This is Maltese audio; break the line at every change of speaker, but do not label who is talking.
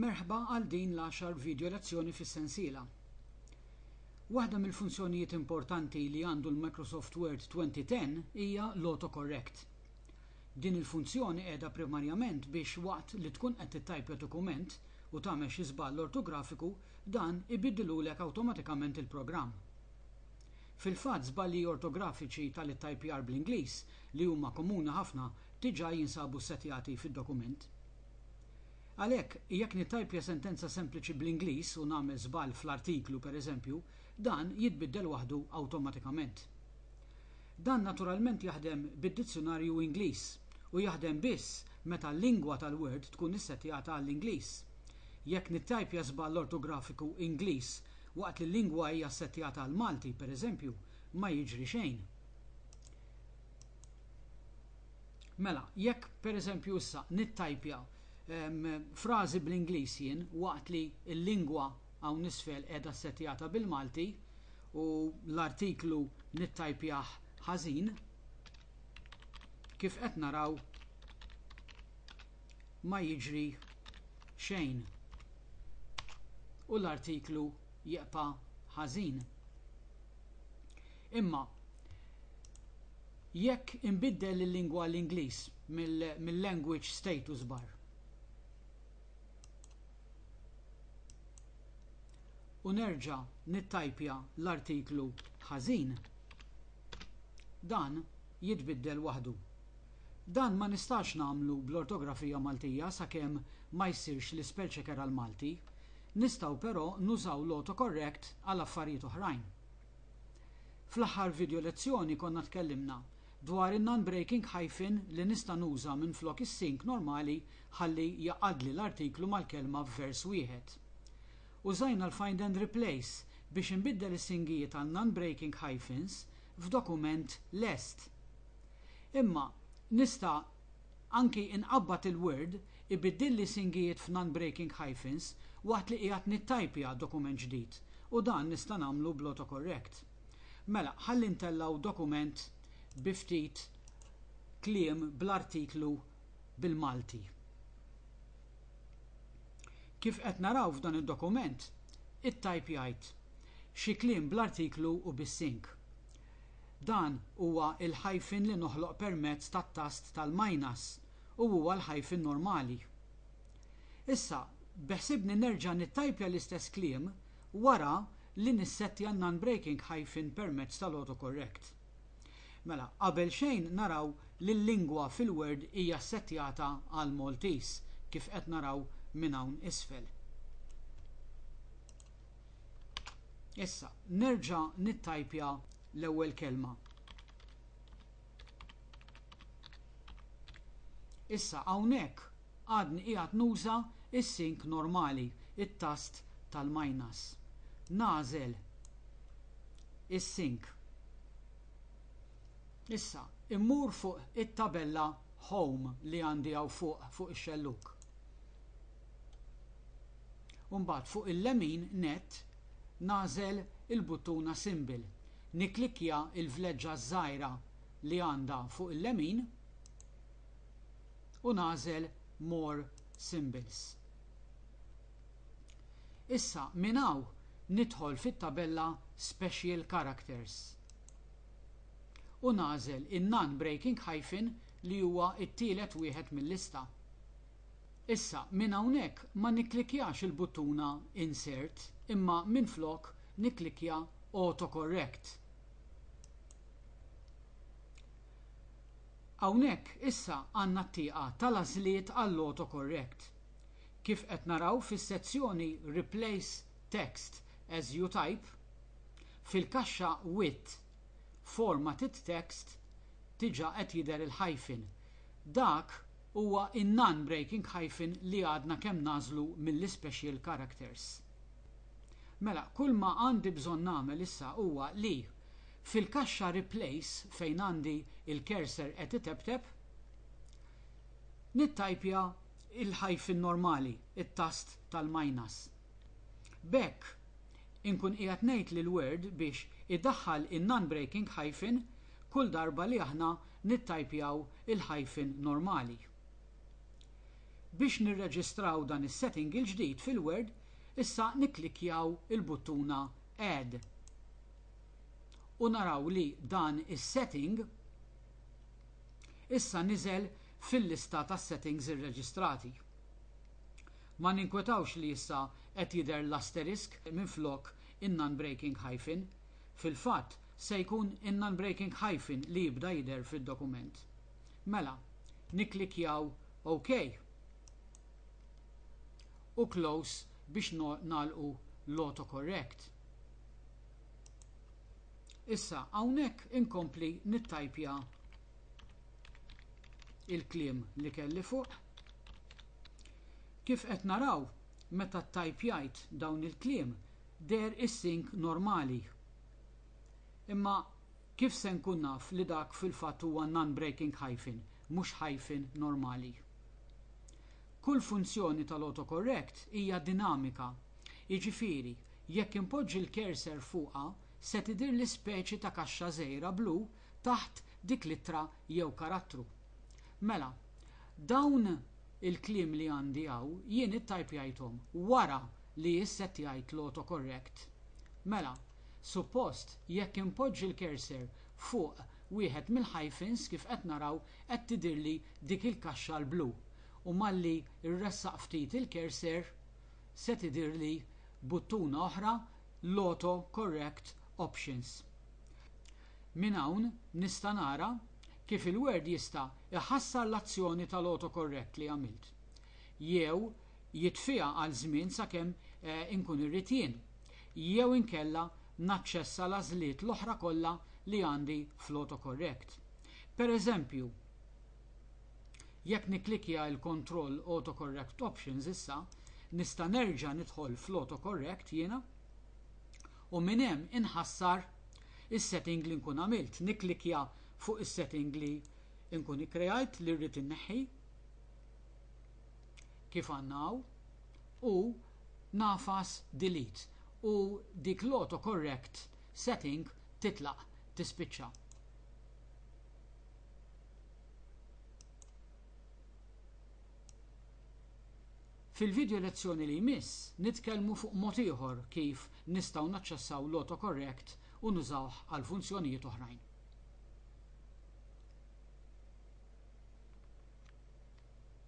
Merħba għal din l-għaxar video lezzjoni fis-sensiela. Waħda mill-funzjonijiet importanti li għandu l-Microsoft Word 2010 hija l-autocorrect. Din il-funzjoni qiegħda primarjament biex waqt li tkun qed tittajpja dokument u tagħmel xi żball ortografiku dan ibiddilulek awtomatikament il-programm. Fil-fatt, żbalji ortografiċi tal-ittajpjar bl-Ingliż, li huma komuni ħafna, diġà jinsabu ssettjati fid-dokument. Għalhekk, jekk nittajpja sentenza sempliċi bl-Ingliż u nagħmel żball fl-artiklu, pereżempju, dan jitbiddel waħdu awtomatikament. Dan naturalment jaħdem bid-dizzjunarju Ingliż u jaħdem biss meta l-lingwa tal-Word tkun issettjata għall-Ingliż. Jekk nittajpja żball ortografiku Ingliż Waqt li l-lingwa hija ssettjata għall-Malti, per eżempju, ma jiġri xejn. Mela, jekk, per eżempju, issa nittajpja frażi bl-Ingliż jien waqt li l-lingwa hawn isfel qiegħda ssettjata bil-Malti u l-artiklu nittajpjah ħażin, kif qed naraw, ma jiġri xejn u l-artiklu jibqa' ħażin. Imma jekk inbiddel il-lingwa għall-Ingliż mill-language status bar u nerġa' nittajpja l-artiklu ħażin, dan jitbiddel waħdu. Dan ma nistax nagħmlu bl-ortografija Maltija sakemm ma jsirx l-ispell checker għall-Malti. Nistgħu però nużaw l-autocorrect għal affarijiet oħrajn. Fl-aħħar video lezzjoni konna tkellimna dwar in-non-breaking hyphen li nista' nuża minflok is-sync normali ħalli jgħaqqadli l-artiklu mal-kelma f'vers wieħed. Użajna l-find and replace biex inbiddel is-syngijiet għal non-breaking hyphens f'dokument lest. Imma nista' anki inqabbad il-Word ibiddilli singijiet f'non-breaking hyphens waqt li qiegħed nittajpja dokument ġdid u dan nista' nagħmlu bl-autocorrect. Mela ħalli ntellgħu dokument bi ftit kliem bl-artiklu bil-Malti. Kif qed naraw f'dan id-dokument, ittajpjajt xi kliem bl-artiklu u bis-sync. Dan huwa l-hyphen li noħloq permezz tat-tast tal-minus u huwa l-hyphen normali. Issa, beħsibni nerġa' nittajpja l-istess kliem wara li nissettja n-non-breaking hyphen permezz tal-autocorrect. Mela, qabel xejn naraw li l-lingwa fil-Word hija ssettjata għall-Maltese, kif qed naraw minn hawn isfel. Issa, nerġa' nittajpja l-ewwel kelma. Issa hawnhekk għadni qiegħed nuża s-sink normali, it-tast tal-minus. Nagħżel is-sink. Issa, immur fuq it-tabella Home li għandi hawn fuq fuq ix-xellug. u mbagħad fuq il-lemin nett nagħżel il-buttuna Symbol, nikklikkja l-vleġġa ż-żgħira li għandha fuq il-lemin u nagħżel More Symbols. Issa minn hawn nidħol fit-tabella Special Characters u nagħżel in-non-breaking hyphen li huwa t-tielet wieħed mil-lista. Issa, minn hawnhekk ma nikklikkjax il-buttuna Insert imma minflok nikklikkja Autocorrect. Hawnhekk issa għandna t-tieqa tal-għażliet għall-autocorrect. Kif qed naraw fis-sezzjoni Replace Text as You Type, fil-kaxxa Width, Formatted Text diġà qed jidher il-hyphen. Dak huwa in-non-breaking hyphen li għadna kemm nagħżlu mill-ispecial characters. Mela, kull ma għandi bżonn nagħmel issa huwa li, fil-kaxxa Replace fejn għandi l-cursor qed iteptep, nittajpja l-hyphen normali, it-tast tal-minus. B'hekk, inkun qiegħed ngħid lill-Word biex idaħħal in-non-breaking hyphen kull darba li aħna nittajpjaw il-hyphen normali. Biex nirreġistraw dan is-setting il-ġdid fil-Word, issa nikklikkjaw il-buttuna Add. U naraw li dan is-setting issa niżel fil-lista tas-settings irreġistrati. Ma ninkwetawx li issa qed jidher l-asterisk minflok in-non-breaking hyphen. Fil-fatt, Se jkun in-non-breaking hyphen li jibda jidher fid-dokument. Mela, nikklikkjaw OK u Close biex nagħlqu l-autocorrect. Issa, hawnhekk inkompli nittajpja il-kliem li kelli fuq. Kif qed naraw, meta ttajpjajt dawn il-kliem, deher is-sync normali. Imma kif se nkun naf li dak fil-fatt huwa non-breaking hyphen, mhux hyphen normali? Kull funzjoni tal-autocorrect hija dinamika, jiġifieri jekk inpoġġi l-cursor fuqha se tidhirli speċi ta' kaxxa żgħira blu taħt dik l-ittra jew karattru. Mela, dawn il-kliem li għandi hawn jien ittajpjajthom wara li jissettjajt l-autocorrect. Mela, suppost jekk inpoġġi l-cursor fuq wieħed mill-hyphens kif qed naraw qed tidhirli dik il-kaxxa l-blu u malli rressaq ftit il-cursor se tidhirli buttuna oħra l-auto correct options. Minn hawn nista' nara kif il-word jista' jħassar l-azzjoni tal-autocorrect li għamilt jew jitfiha għal żmien sakemm inkun irrid jien, jew inkella naċċessa l-għażliet l-oħra kollha li għandi fl-autocorrect. Pereżempju, jekk nikklikkja il-kontroll Autocorrect Options issa, nista' nerġa' nidħol fl-autocorrect jiena u minn hemm inħassar is-setting li nkun għamilt, nikklikkja fuq is-setting li nkun ikkreajt li rrid inneħħi, kif għandna hawn, u nagħfas delete u dik l-autocorrect setting titlaq, tispiċċa. Fil-video lezzjoni li jmiss nitkellmu fuq mod ieħor kif nistgħu naċċessaw l-autocorrect u nużawh għal funzjonijiet oħrajn.